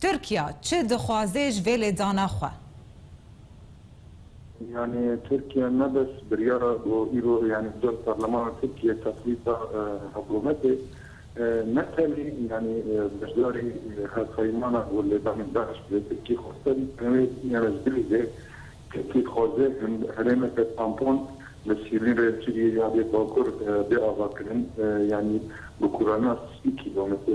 Tirkiya çi dixwaze ji vê lêdana xwe? Yanî Tirkiye ne bes biryara ku îro yanî bi dest parlemana Tirkiyeyê teqlîd da hikûmetê, ne tenê yanî beşdarî hevpeymana ku lêdanê DAIŞ bi vê Tirkiyê xweste bî tenê wê yanî ji bilî jê Tirkiyê dixwaze herêmeke tampon li sînê rê Sûriyeyê ya rê Bakur bê avakirin yanî bi kurana sî kîlometre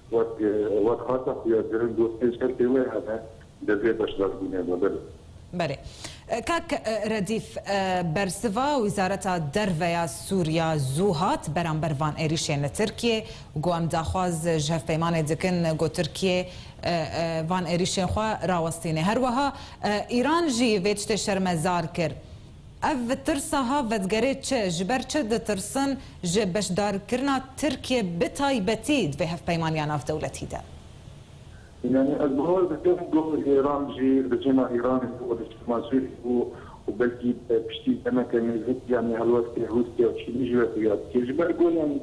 Wek wek hata xuyakirin got pênc herkê wê hebe divê beşdarbûnê xwe bide. Belê. Kak Redîf, bersiva Wîzareta Derve ya Sûriya zû hat beramber van êrîşên li Tirkiyê û got em daxwaz ji hevpeymanê dikin ku Tirkiyê van êrîşên xwe rawestîne. Her wiha Îran jî vê tiştê şermezar kir. Ev tirsa ha vedigerê çi, ji ber çi ditirsin ji beşdarkirina Tirkiyê bi taybetî di vê hevpeymaniya navdewletî de? Yanî ez bawer dikim ku Îran jî rejîma Îranê bû û rejîma Sûrî bû û belkî piştî demeke nêzik yanî helwestê Rûsya û Çînî ji we xuya dike. Ji ber ku yanî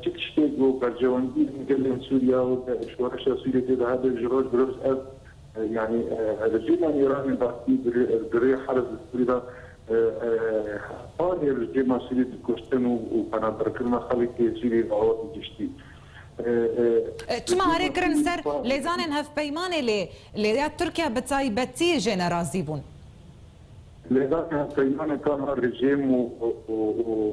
çi tiştê ku berjewendiyên gelên Sûrîya û şoreşa Sûrîyê tê de hebe ji roj bi roj ev Yanî rejîma Îranê Bakrî bi rê herz li Sûrî de hezarê rejîma Sûrî bi kuştin û penaberkirina xelkê Sûrî re hate giştî. Çima erê kirin ser lêzanên hevpeymanê lê lê ya Tirkiye bi taybetî jê ne razî bûn? Lêzanên hevpeymanê tama rejîm û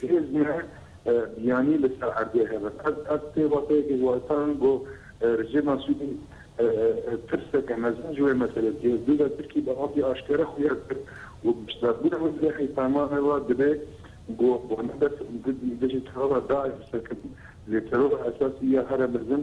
Hêz me biyanî li ser erdê hebe. Ez pêvateyekê wextan got rejîma Sûrî tirseke mezin ji wê meselê dîye. Dûda Tirkî bi avê aşkere xuya kir û beşdarbûna wê li hêsama me ve dibe ku wan bes dijî terora DAIŞ serkevin. Lê terora esasî ya here mezin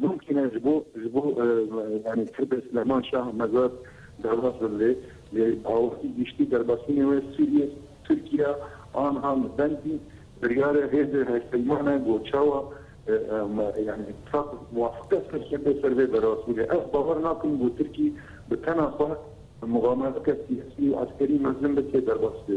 Bûkîne ji bo ji bo yanî Tirbê Silêman Şah Mezar derbas bin lê lê bi awakî giştî derbasînê wê Sûriyê Tirkiye anha li Bendî biryare hêzê hevpeyman e ku çawa yanî tab muwafiqe serkeve ser vê be rast bûne. Ez bawer nakim ku Tirkî bi tena xwe muxamereteke siyasî û eskerî mezin be tê derbas bê.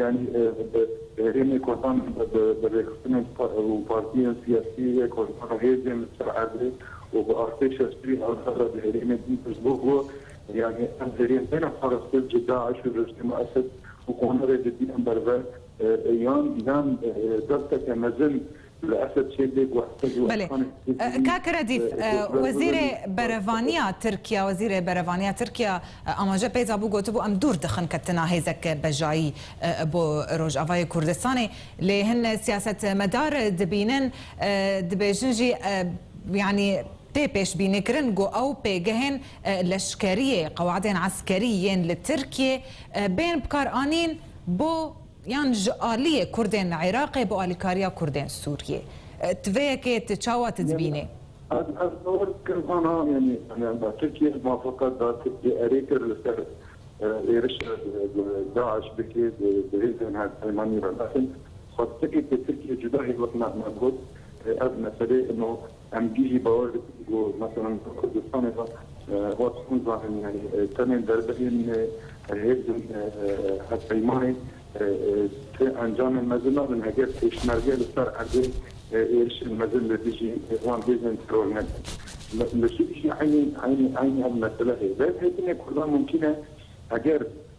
Yanî bi herêmê Kurdan bi rêxistinên û partiyên siyasî yê Kurdan û hêzên li ser erdê û bi artêşa Sûrî azad a di herêmê din piştgû bû, yanî ev herêm têne parastin ji DAIŞ û rejîma Esed û konarê li dî em berve yan yan desteke mezin Belê. Kak Redîf, Wezîrê Berevaniya Tirkiya Wezîrê Berevaniya Tirkiya amaje peyza bû gotibû em dûr dixin ketina hêzek bejayî bo Rojavayê Kurdistanê. Lê hin siyasetmedar dibînin, dibêjin jî yanî tê pêşbînîkirin ku ew pêgehên leşkeriyê, qewedên eskerî yên li Tirkiyê bên bikaranîn bo yan ji aliyê kurdên li Iraqê bi alîkariya kurdên Sûriyê ti vê yekê ti çawa ti dibînê? Ez ez bawer dikim van namênê yani me Tirkiye mafaka da Tirkiye erê kir li ser êrişa DAIŞ bike bi hêzên hevpeymanî re lakin xwestekê ke Tirkiye cuda hêvek me me got ez meselê ino Em dî jî bawer dikin ku meselan di Kurdistanê de vat hûn zanîn yanî tenê derbeyên hêzên hevpeymanê ti encamên mezin nabin heger pêşmerge li ser erdê êrişên mezin li dijî wan hêzên teror nekin. Li Sûrî jî eynî eynî eynî ev mesele heye. Derbhêtinê Kurdan mumkîn e heger